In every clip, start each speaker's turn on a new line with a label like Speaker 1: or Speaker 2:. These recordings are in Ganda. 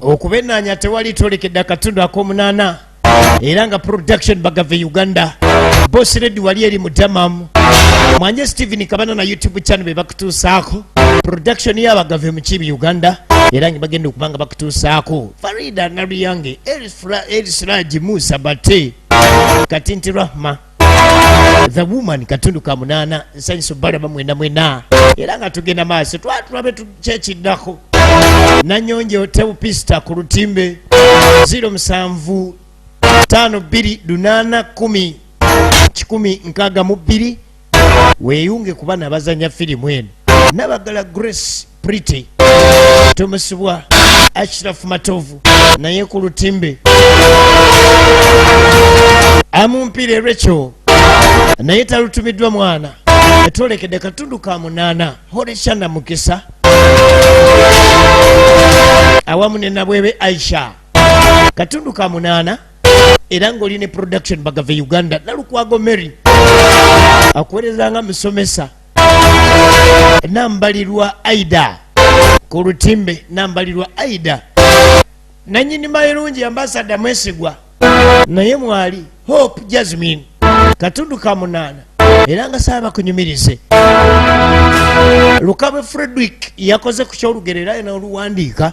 Speaker 1: okubenaanya tewali twolekedde akatundu ak'omunaana era nga production bagave uganda bosi redi wali eri mutamamu mwanje stephen kabana na youtube channel bebakutuusaako production yabagave mukibi uganda era nga bagenda okuba nga bakutuusaako farida naluyange erisiraji musa bate kati nti rahma the woman katundu ka munaana nsanyusa obalaba mwena mwena era nga tugenda maaso twatulabe kyekiddako nanyonjo tewupista ku lutimbe 07 52 8 weyunge kuba nabazanya firimu eno nabagala grace pretty tumusibwa ashirafu matovu naye ku lutimbe amumpire recho naye talutumiddwa mwana etwolekedde katundu ka munaana horeshana mukisa awamu ne nabwebe aisha katundu ka munaana era ng'oli ne production bagave uganda nalukwago mary akuweereza nga musomesa nambalirwa aida ku lutimbe nambalirwa aida nanyini mayirungi ambasada mwesigwa naye mwali hope jasmine katundu ka munaana era nga saaba kunyumirize lukabwe fredrick yakoze ku kyolugero era yena oluwandiika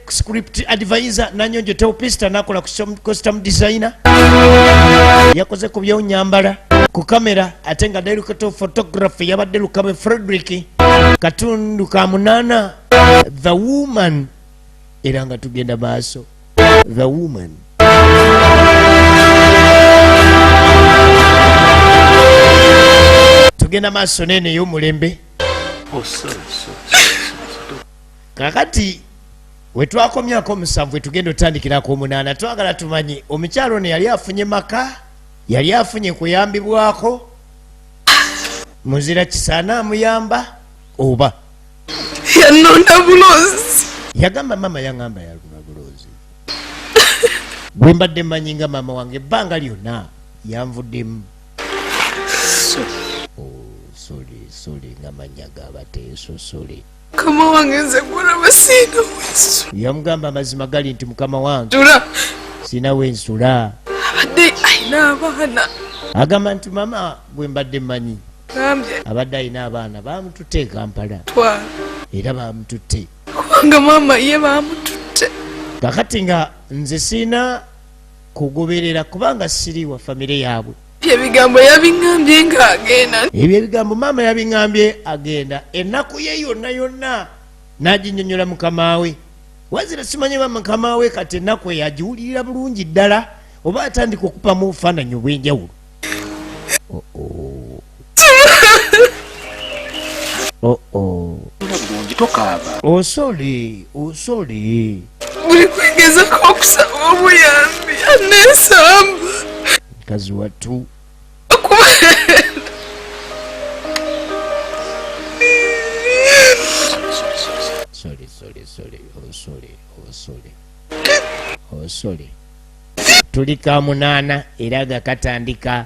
Speaker 1: script advisor nanyonjo teopista nakola costume designer yakoze ku byonyambala ku kamera ate nga director photography yabadde lukabe frederick katundu ka munana the woman era nga tugenda maaso the woman tugenda maaso neneyo omulembe oh, kakati wetwakomyako omusanvu wetugenda otandikira ku omunaana twagala tumanye omukyalo ono yali afunye maka yali afunye kuyambibwako muzira kisaana amuyamba oba
Speaker 2: yanonda bulozi yagamba mama
Speaker 1: yangamba yaluna bulozi bwe mbadde manyi nga mama wange ebbanga lyonna yanvuddemu oh, sole sole nga manya gabateesosole mukama wange nze
Speaker 2: kulaba siina wensu yamugamba amazima
Speaker 1: gali nti mukama wange tula siina wensula abadde
Speaker 2: alina abaana agamba nti
Speaker 1: mama gwe mbadde manyi abadde alina abaana bamututte ekampala era bamututte kubanga mama
Speaker 2: ye bamututte kakati nga
Speaker 1: nze siina kugoberera kubanga siri wa famire yaabwe ebigambo
Speaker 2: yabiŋambye nga agenda ebyo ebigambo maama
Speaker 1: yabiŋambye agenda ennaku ye yonna yonna n'aginyonyola mukama we wazira simanye ba mukama we kati ennaku eyo agiwulirira bulungi ddala oba atandika okupamu obufaananyi obw'enjawulo oh, oh. Oh oh. Osoli, osoli.
Speaker 2: Buli kwigeza kwa kusaba obuyambi anesamba. Kazi
Speaker 1: watu. Sorry, sorry, sorry, oh sorry, oh sorry. Oh sorry. Tulika munana iraga katandika.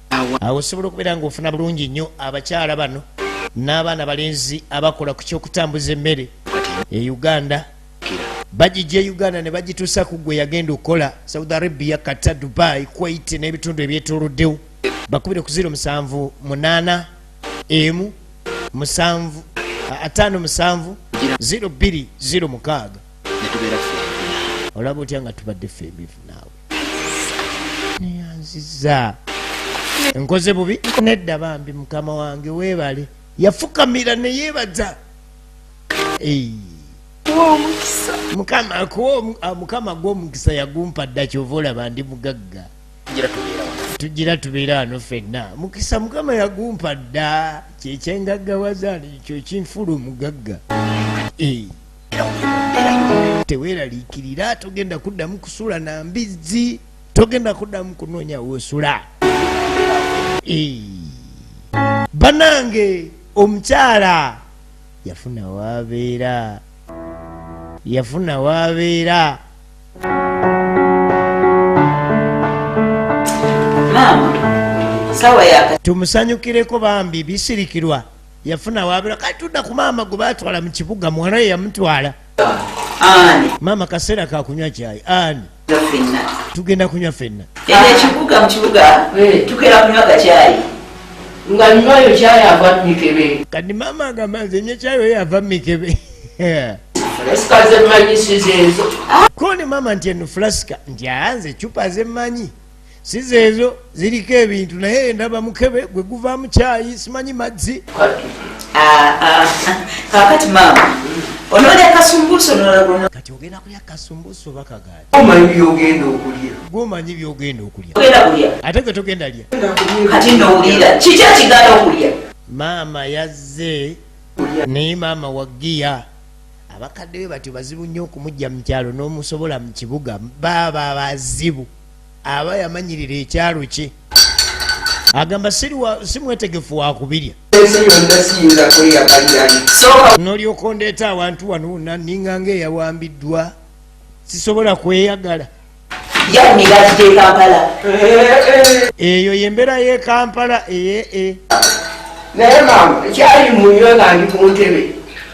Speaker 1: awo osobola okubeera nga ofuna bulungi nnyo abakyala bano n'abaana balenzi abakola ku kyokutambuza emmere e uganda bagijja e uganda ne bagituusa ku gwe yagenda okukola saudi arabia kata dubai kuwait n'ebitundu ebyetoloddewo bakubire ku ziro musanvu munaana emu musanvu ataano musanvu ziro bbiri ziro mukaaga olaba otya nga tubadde ffe ebivu naawe neyanziza nkoze bubi nedda bambi mukama wange webale yafukamira neyebaza mukama gwomukisa yagumpa dda kyova olaba ndi mugagga tugira tubeera wano fenna mukisa mukama yagumpa dda kyekyengaggawaza ekyo kinfula omugagga teweraliikirira togenda kuddamu kusula na mbizzi togenda kuddamu kunoonya wosula banange omukyala yafuna wabeera yafuna wabeera tumusanyukireko bambi bisirikirwa yafuna wabira kati tudda ku maama gwe batwala mu kibuga muwala ye yamutwala maama kaseera kakunywa kyayi ani tugenda kunywa fenna ekibuga mukibuga
Speaker 3: eh. tugenda kunywa kakyayi nga nywayo kyayi ava mumikebe kati maama agamba
Speaker 1: nze nyo kyayi oyo ava mumikebe
Speaker 3: kone maama
Speaker 1: nti eno fulasika nti anze cupa zemanyi siza ezo ziriko ebintu naye ndaba mukebe gwe guvaamu kyayi simanyi mazzi ah, ah.
Speaker 3: kakati maama onolya kasumbuso kati ogenda kulya
Speaker 1: kasumbuso bakagaati omanyi byogenda
Speaker 3: okulya gwomanyi byogenda
Speaker 1: okulya ate gwe
Speaker 3: togenda lya
Speaker 1: kati nowulira
Speaker 3: kiki ekigala okulya maama
Speaker 1: yazze naye maama wagiya abakadde be batyo bazibu nnyo okumujja mu kyalo n'omusobola mu kibuga baaba bazibu aba yamanyirira ekyalo kye agamba si mwetegefu wakubirya nolyoka ondeeta awantu wano wona ninga nga eyawambiddwa sisobola kweyagala eyo yembeera yekampala eye e.
Speaker 3: naye mama kyali munywe nga ndi ku ntebe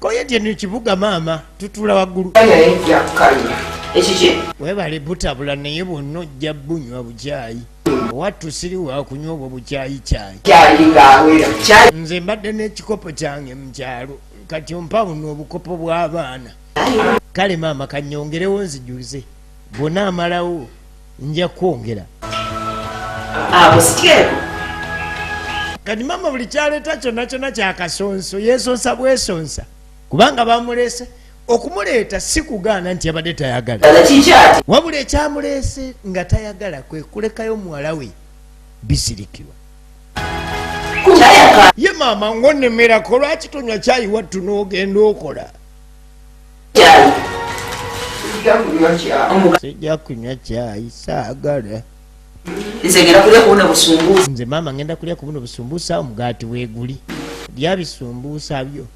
Speaker 1: koyedye ni kibuga maama tutula waggulu
Speaker 3: webale butabula
Speaker 1: naye bwonna ojja bunywa bukyayi wattu siri wakunywa obwo bukyayi kyayi nze mbadde n'ekikopo kyange mu kyalo kati ompabuno obukopo bw'abaana kale maama kanyongerewo nzijuze bwonaamalawo nja kwongera abo siteeko kati mama buli kyaleeta kyonna kyonna kyakasonso yesonsa bwesonsa kubanga bamuleese okumuleeta si kugaana nti yabadde tayagala wabula ekyamuleese nga tayagala kwe kulekayo muwala we bisirikirwa ye maama ngonemerako lwaki tonywa kyayiwattu n'ogenda okola sijja kunywa kyayi saagala nze ngenda kulya kubuna busumbuusa nze maama ngenda kulya kubuna obusumbuusa omugaati weeguli lya bisumbuusa byo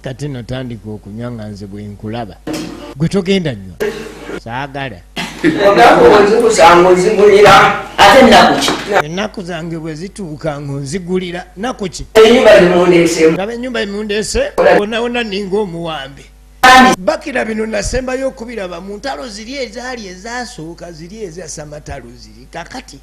Speaker 1: kati notandika okunywa nga nze bwenkulaba gwe togenda nywa saagala ennaku zange bwe zituuka ng'onzigulira naku ki laba ennyumba emundeese wonawona ninga omuwambe bakira bino nasembayo okubiraba mu ntalo ziri ezaali ezasooka ziri ezasamatalo ziri kakati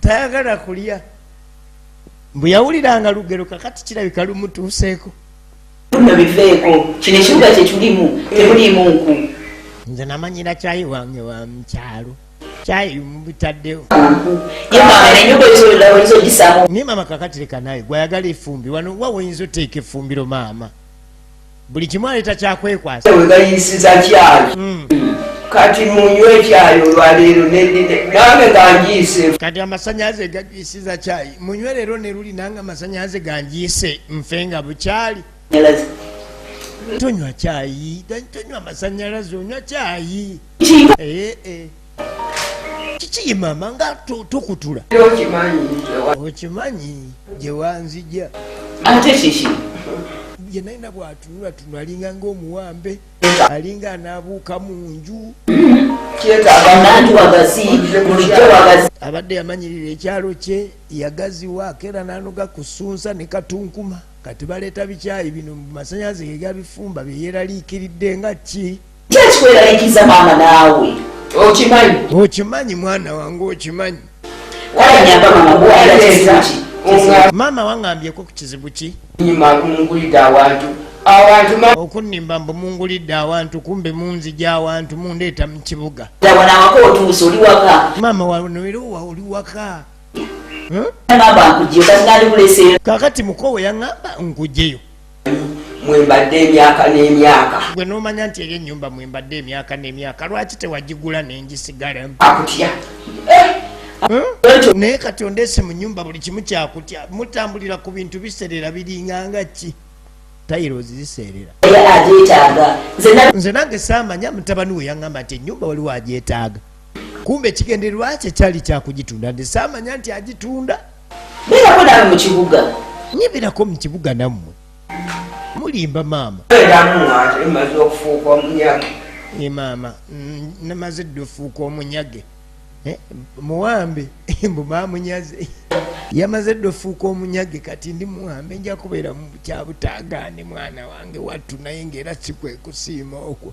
Speaker 1: tayagala kulya mbu yawuliranga lugero kakati kirabika lumutuuseeko no
Speaker 3: biveeko kino ekibuga kyetulimu temuliimu nku nze namanyira
Speaker 1: kyayi wange wa mukyalo kyayi mubitaddewo
Speaker 3: naye maama kakati leka
Speaker 1: naye gwayagala efumbi wano wa woyinza oteeka efumbiro maama buli kimu aleeta kyakwekwasa wegayisiza
Speaker 2: kyayi hmm. kati munywe ekyayi olwaleero nange ganjiise kati amasanyalaze
Speaker 1: gajisiza kyayi munywe leero neluli nange amasanyalaze ganjiise nfe nga bukyali tonywa kyayi tonywa amasanyalaze onywa kyayi eh, eh. kiki ye maama nga tukutula okimanyi gyewanzija ate
Speaker 3: kiki ye
Speaker 1: nalina bwatunula tunula alinga ngaomuwambe alinga anaabuuka mu nju abadde yamanyirira ekyalo kye yagaziwa akeera nanoga kusunsa ne katunkuma kati baleeta bikyayi bino mu masanyalaze gegabifumba byeyeraliikiridde nga ki Judge kweralikiriza
Speaker 3: maama naawe okimanyi
Speaker 1: okimanyi mwana wange okimanyi wayanyamba
Speaker 3: mama kuwayateza maama
Speaker 1: wangambyeko ku kizibu ki nyuma kumungulidde awantu okunimba mbu mungulidde awantu kumbe munzija awantu mundeeta mu kibuga
Speaker 3: maama wanoerowa
Speaker 1: oli waka
Speaker 3: kakati mukowe
Speaker 1: yaŋamba nkujeyo mwembadde
Speaker 2: emyaka n'emyaka gwe nomanya nti eyo
Speaker 1: enyumba mwembadde emyaka n'emyaka lwaki tewagigula nengisigalamu akutya
Speaker 2: eh?
Speaker 1: naye kati ondeese mu nyumba buli kimu kyakutya mutambulira ku bintu biseerera biringanga ki tairozi ziseerera
Speaker 3: nze nange
Speaker 1: saamanya mutabani we yaŋamba nti enyumba waliwo agyetaaga kumbe ekigendererwa kye kyali kyakugitunda nze saamanya nti agitunda beerako naawe mu
Speaker 3: kibuga nye beerako mu
Speaker 1: kibuga nammwe mulimba maama
Speaker 2: e maama mm,
Speaker 1: namaze dda ofuuka omunyage eh, muwambe mbu mamunyaze yamaze dda ofuuka omunyage kati ndi muwambe nja kubeera mu kyabutaagaane mwana wange wattu naye ngaera sikwekusiima okwo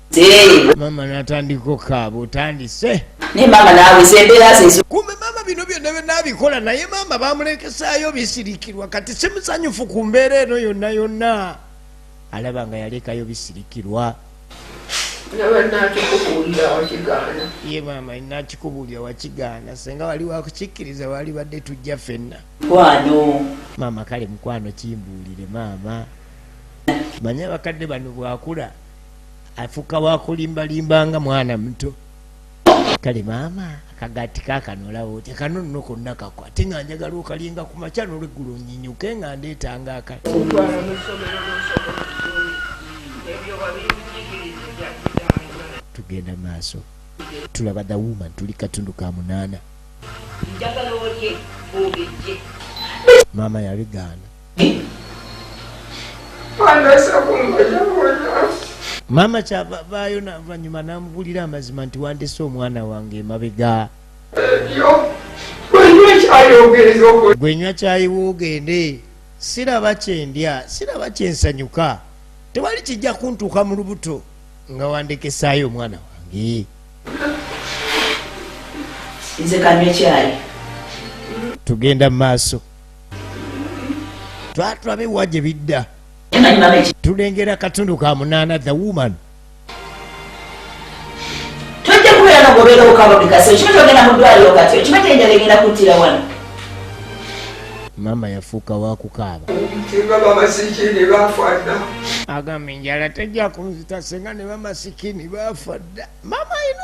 Speaker 1: mama natandika okaaba otandise naye mama naawe
Speaker 3: zembeera zezo kumbe mama bino byonna
Speaker 1: byenabikola naye mama bamulekesayo bisirikirwa kati simusanyufu ku mbeera eno yonna yonna alaba nga yalekayo bisirikirwa
Speaker 2: ye maama
Speaker 1: nakikubuulira wakigaana senga wali wakukikkiriza wali badde tujja fenna kwano
Speaker 3: maama kale
Speaker 1: mukwano kimbuulire maama manya abakadde bano bwakula afuka wakulimbalimba nga mwana muto kale maama akagati kakanolawo otya kano nno konna kakwa ate nga njagala okalinga ku makya nolweggulo nyinyuke nga ndeetanga akale tugenda maaso tulaba the woman tuli katundu ka munaana maama yabigaana maama kyava vaayo navanyuma namubulira amazima nti wandese omwana wange emabega gwenywa kyayiwa ogende siraba kyendya siraba kyensanyuka tewali kijja kuntuuka mu lubuto nga wandekesaayo omwana wange
Speaker 3: nze kanywa kyayi
Speaker 1: tugenda mu maaso twatulabe wa gye bidda tulengera katundu ka munaana the woman
Speaker 3: tojja kubeera nogobeera okabamikaso ekimu kyogenda mu ddwaliro kati ekimu kyenjala egenda kuttira wano maama
Speaker 1: yafuuka wakukaaba
Speaker 2: agamba
Speaker 1: enjala tejja kunzita senga ne bamasikini bafa dda maama ayina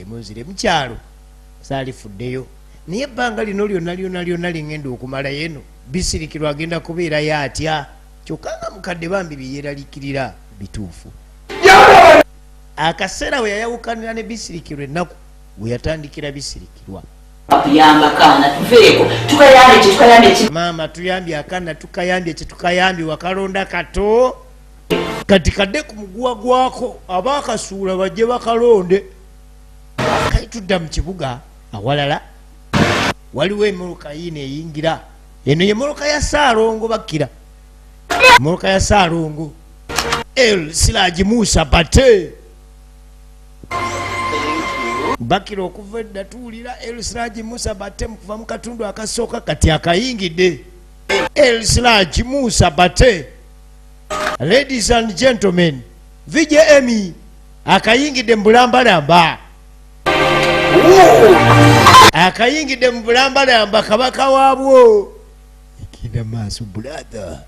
Speaker 1: emunzire mukyalo saalifuddeyo naye ebbanga lino lyonna lyona lyona lingenda okumala yeno bisirikirwa agenda kubeerayo atya kyokka nga mukadde bambi byeyeralikirira bituufu akaseera we yayawukanira ne bisirikirwa ennaku we yatandikira bisirikirwa
Speaker 3: maama tuyambye akana
Speaker 1: tukayambye kyetukayambye wakalonda kato kati kadde ku muguwa gwako aba akasuula bajje bakalonde kali tudda mu kibuga awalala waliwo emoloka yiina eyingira eno ye moloka ya saalongo bakkira moloka ya saalongo el siraji musa bate bakira okuva edda tuwulira el siraji musa bate mukuva mu katundu akasooka kati akayingidde el siraji musa bate ladies and gentlemen vj emy akayingidde mu bulambalamba akayingidde mu bulambalamba kabaka waabwo ekida maaso bulatha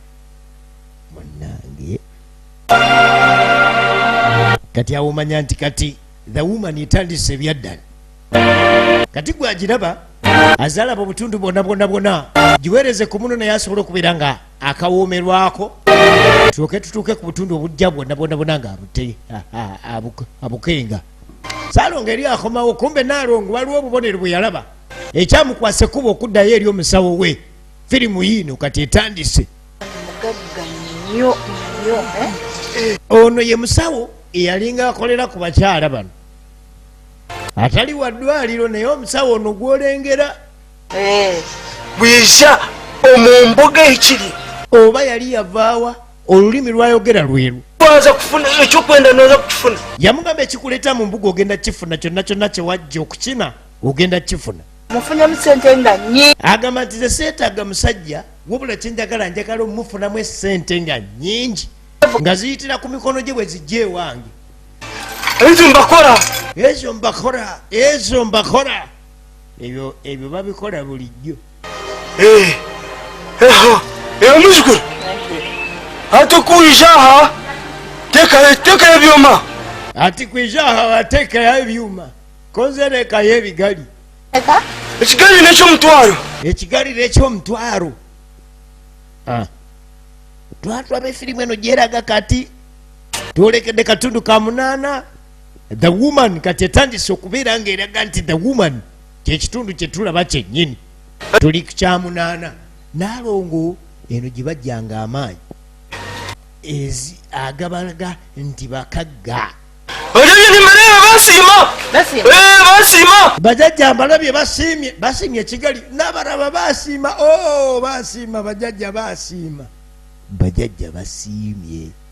Speaker 1: munange kati awomanya nti kati the woman etandise ebyaddala kati gwagiraba azalaba obutundu bwona bwona bwona giweereze ku muno naye asobola okubeera nga akawoomerwako tuuke tutuuke ku butundu obujja bwonna bwonna bwona nga abute abukenga salonga eri akomawo kumbe nalongo waliwo obubonero bwe yalaba ekyamukwasa ekkuba okuddayo eri omusawo we firimu yiino kati etandise eh? ono ye musawo eyalinga akolera ku bakyala bano atali wa ddwaliro naye omusawo ono gwolengera eh. bwiza
Speaker 4: omumboga ekiri oba yali
Speaker 1: yavaawa olulimi lwayogera lweru waza kufuna
Speaker 4: ekyokwenda noza kukifuna yamugamba ekikuleta
Speaker 1: mu mbuga ogenda kukifuna kyonna kyonna kyewajja okukina ogenda kukifuna mufunyamu sente
Speaker 5: nga nyi agamba nti ze seetaaga
Speaker 1: musajja wabula kyenjagala njagala omumufunamu esente nga nyingi nga ziyitira ku mikono gye bwe zijja ewange ezo mbakora ezo mbakora ezo mbakora ebyo ebyo babikola bulijjo eh,
Speaker 4: eyo muzukulu atukwijaha tekayo ebyuma ati kwijaha
Speaker 1: watekayo ebyuma konzerekayo ebigali
Speaker 4: ekigali nekyomutwalo ekigali
Speaker 1: nekyomutwalo ah. twatwaba efirimu eno gyeraga kati twolekedde katundu ka munaana the woman kati etandise okubeera nga eraga nti the woman kyekitundu kyetulaba kyenyini tuli kukyamunaana nalongo eno gyebajjanga amaanyi ezi agabalaga nti bakagga
Speaker 4: bajajja
Speaker 1: mbalabye basiimye basiimye ekigali nabaraba basiima o oh, basiima bajajja basiima bajajja basiimye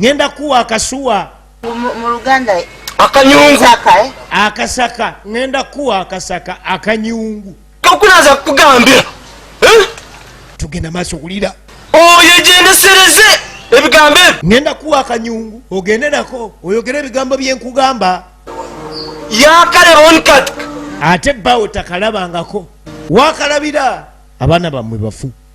Speaker 1: ngenda kuwa akasuwa
Speaker 5: akanyungu
Speaker 4: eh? akasaka
Speaker 1: ngenda kuwa akasaka akanyungu kakulaza
Speaker 4: kugambira eh?
Speaker 1: tugenda maaso kulira oyo gyendesereze
Speaker 4: ebigambo ebyo ngenda kuwa akanyungu
Speaker 1: ogende nako oyogere ebigambo byenkugamba
Speaker 4: yakalebonkat ate bawo
Speaker 1: takalabangako wakalabira abaana bamwe bafu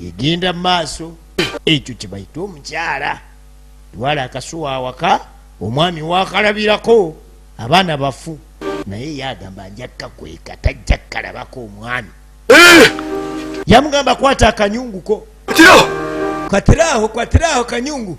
Speaker 1: egenda mu maaso ekyo kyebayita omukyala twala akasuwa awaka omwami wakalabirako abaana bafu naye yagamba njakka kweka tajja kukalabako omwami eh! yamugamba kwata akanyunguko katiraho katiraho kanyungu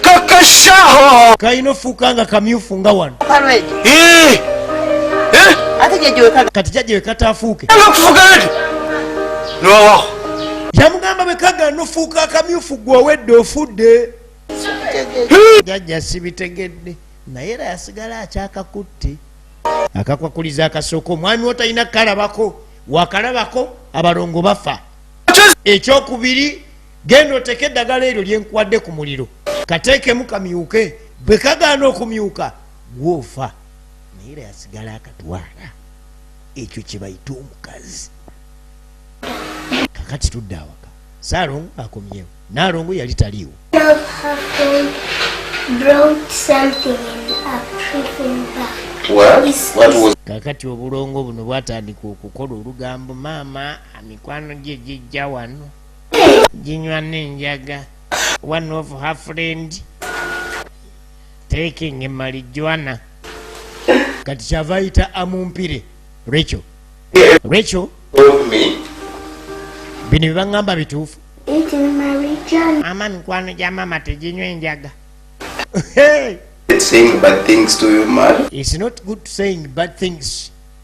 Speaker 1: kakashaho
Speaker 4: kalina ofuuka
Speaker 1: nga kamyufu nga wano eh! Eh!
Speaker 5: kati jajja wekataafuuke
Speaker 1: yamugamba bwekagala nofuuka akamyufu gwe owedde ofudde jajja sibitegedde naye era yasigala akyakakutte akakwakuliza akasooka omwami wo talina kukalabako wakalabako abalongo bafa ekyokubiri genda oteeka eddagala eryo lye nkuwadde ku muliro kateekemu kamyuke bwe kagaana okumyuka gwoofa naye era yasigala akatwala ekyo kye bayita omukazi kakati tudde awaka saalongo akomyewo naalongo yali taliiwo kakati obulongo buno bwatandika okukola olugambo maama mikwano gye gijja wano ginywa nenjaga one of her friend taking marijuana kati kyava ayita amumpire recho recho bino byebaŋŋamba bituufu mama mikwano gya mama teginywa enjaga
Speaker 6: It's not good
Speaker 1: saying bad things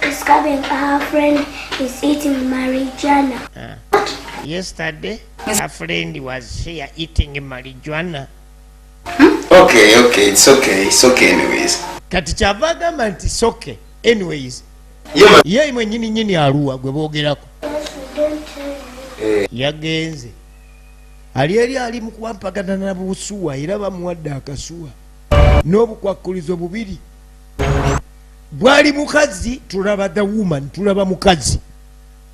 Speaker 7: Discovering her friend is eating marijuana. Uh,
Speaker 1: yesterday, her friend was here eating marijuana. Hmm?
Speaker 6: Okay, okay, it's okay, it's okay anyways. Kati kyava
Speaker 1: agamba nti it's okay anyways. Yeah, ye
Speaker 6: imwe nyini nyini
Speaker 1: aruwa gwe bogerako.
Speaker 7: Eh. Yagenze.
Speaker 1: Ali eri ali mu kuwampagana na busuwa era bamuwadde akasuwa n'obukwakkulizo bubiri. bwali mukazi tulaba the woman tulaba mukazi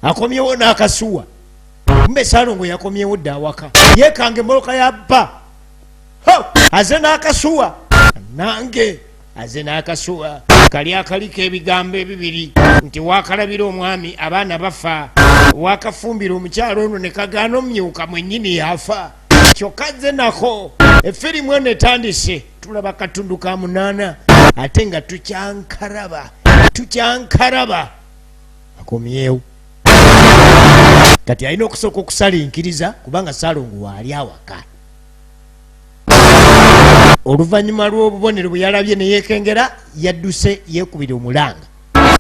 Speaker 1: akomyewo n'akasuwa mbe salongo yakomyewo dda awaka yekanga emoloka ya bba aze n'akasuwa nange aze n'akasuwa kali akaliko ebigambo ebibiri nti wakalabira omwami abaana bafa wakafumbira omukyalo ono ne kagaana omumyuka mwennyini yafa kyokka ze nako efirimu eno etandise tulaba katundu ka munaana ate nga tukyankaraba tukyankaraba akomyewo kati alina okusooka okusalinkiriza kubanga salongo waali awaka oluvannyuma lw'obubonero bwe yalabye neyekengera yadduse yekubira omulanga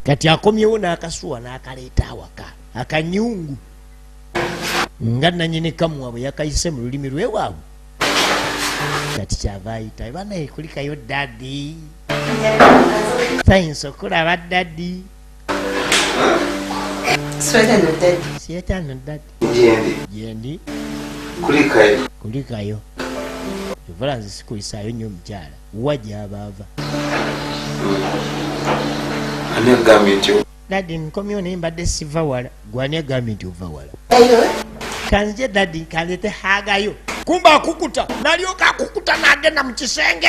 Speaker 1: kati akomyewo n'akasuwa n'akaleeta awaka akanyungu nga nanyini kamuwa bwe yakayise mu lulimi lwewaabwe kati kyava ayitayo banaye kulikayo dadi sayinsa okulaba dadi sietano dadi jendi kulikayo evula nze sikuyisayo nyo omukyala wa gyabaava
Speaker 6: Daddy nkomyewo naye
Speaker 1: mbadde siva wala. Gwani agambye nti ova wala? Kanzije daddy kanzete hagayo. Kumba akukuta nalyoka akukuta n'agenda mu kisenge.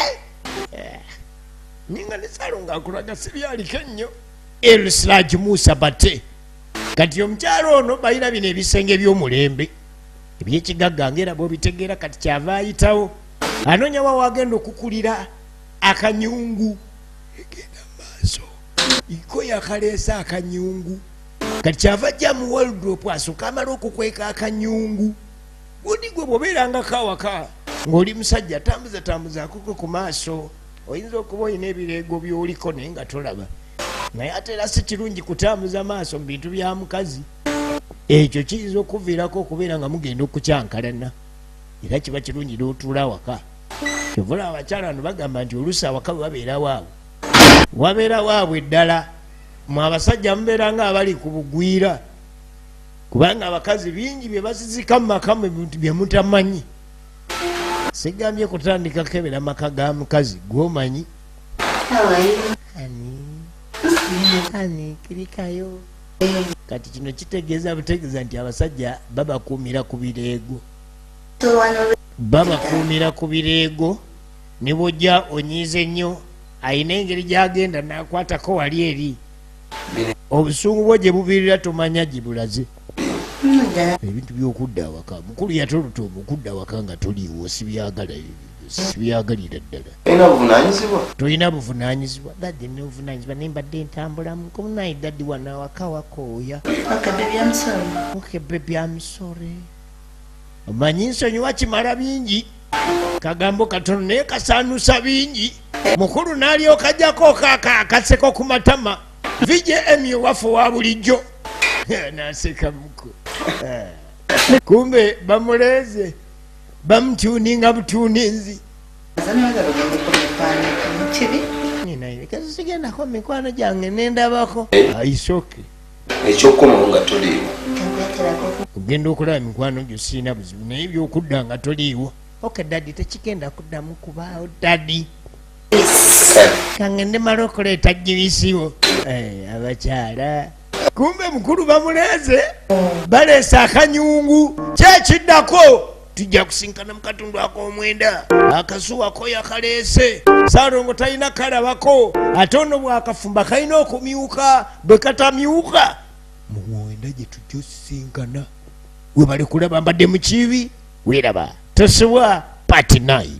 Speaker 1: Eh, ninga ne Salongo akulaga sibyaliko ennyo. Elslaj Musa Bate kati omukyalo ono balina bino ebisenge by'omulembe ebyekigagga ngaera bwobitegeera kati kyava ayitawo anonyawa wagenda okukulira akanyungu egenda maaso iko yakaleese akanyungu kati kyava ajja mu waldrop asoka amala okukweka akanyungu gundi gwe bwobeerangako awaka ng'oli musajja tambuza tambuza akoko ku maaso oyinza okuba olina ebireego byoliko naye nga tolaba naye ate era si kirungi kutambuza maaso mu bintu bya mukazi ekyo kiyinza okuviirako okubeera nga mugenda okukyankalana era kiba kirungi n'otuula awaka kyovula abakyala bano bagamba nti oluusi awaka bwe babeera waabwe wabeera waabwe ddala mu abasajja mubeera nga abali ku bugwira kubanga abakazi bingi bye basizika mu maka bye mutamanyi sigambye kutandika kebera maka ga mukazi gwomanyi kirikayo kati kino kitegeeza butegeeza nti abasajja babakuumira ku bireego babakuumira ku bireego ne bwojja onyiize nnyo alina engeri gy'agenda n'akwatako wali eri obusungu bwo gye bubiirira tomanya gye bulaze ebintu by'okudda awaka mukulu yatoluta omukudda awaka nga toliiwo sibyagala sibyagalira ddala tolina buvunaanyizibwa dadi nobuvunaanyizibwa naye mbadde ntambulamu komunaye dadi wano awaka wakooya okebebyamusore omanyi nsonyiwa kimala bingi kagambo katono naye kasaanusa bingi mukulu n'alyokajako kaka akaseko ku matama vjm owaffe wa bulijjo naseka muku eh. kumbe bamuleeze bamutuuninga butuuninzi sigenda ko mikwano gyange nendabako aisoke
Speaker 6: ekyokukomawo nga
Speaker 1: toliiwo ogenda okulaba mikwano gyo siina buzibu naye byokudda nga toliiwo ok dadi tekigenda kuddamu kubaawo dadi kangende mala okuleeta jibisiwo eh, abakyala kumbe mukulu bamuleeze baleese akanyungu kyekiddako tujja kusinkana mu katundu ak'omwenda akazuwa ko yakaleese saalongo talina kalabako ate ono bwakafumba kalina okumyuka bwe katamyuka mu mwenda gye tujja osisinkana webale kulaba mbadde mu kibi weeraba tosibwa patinai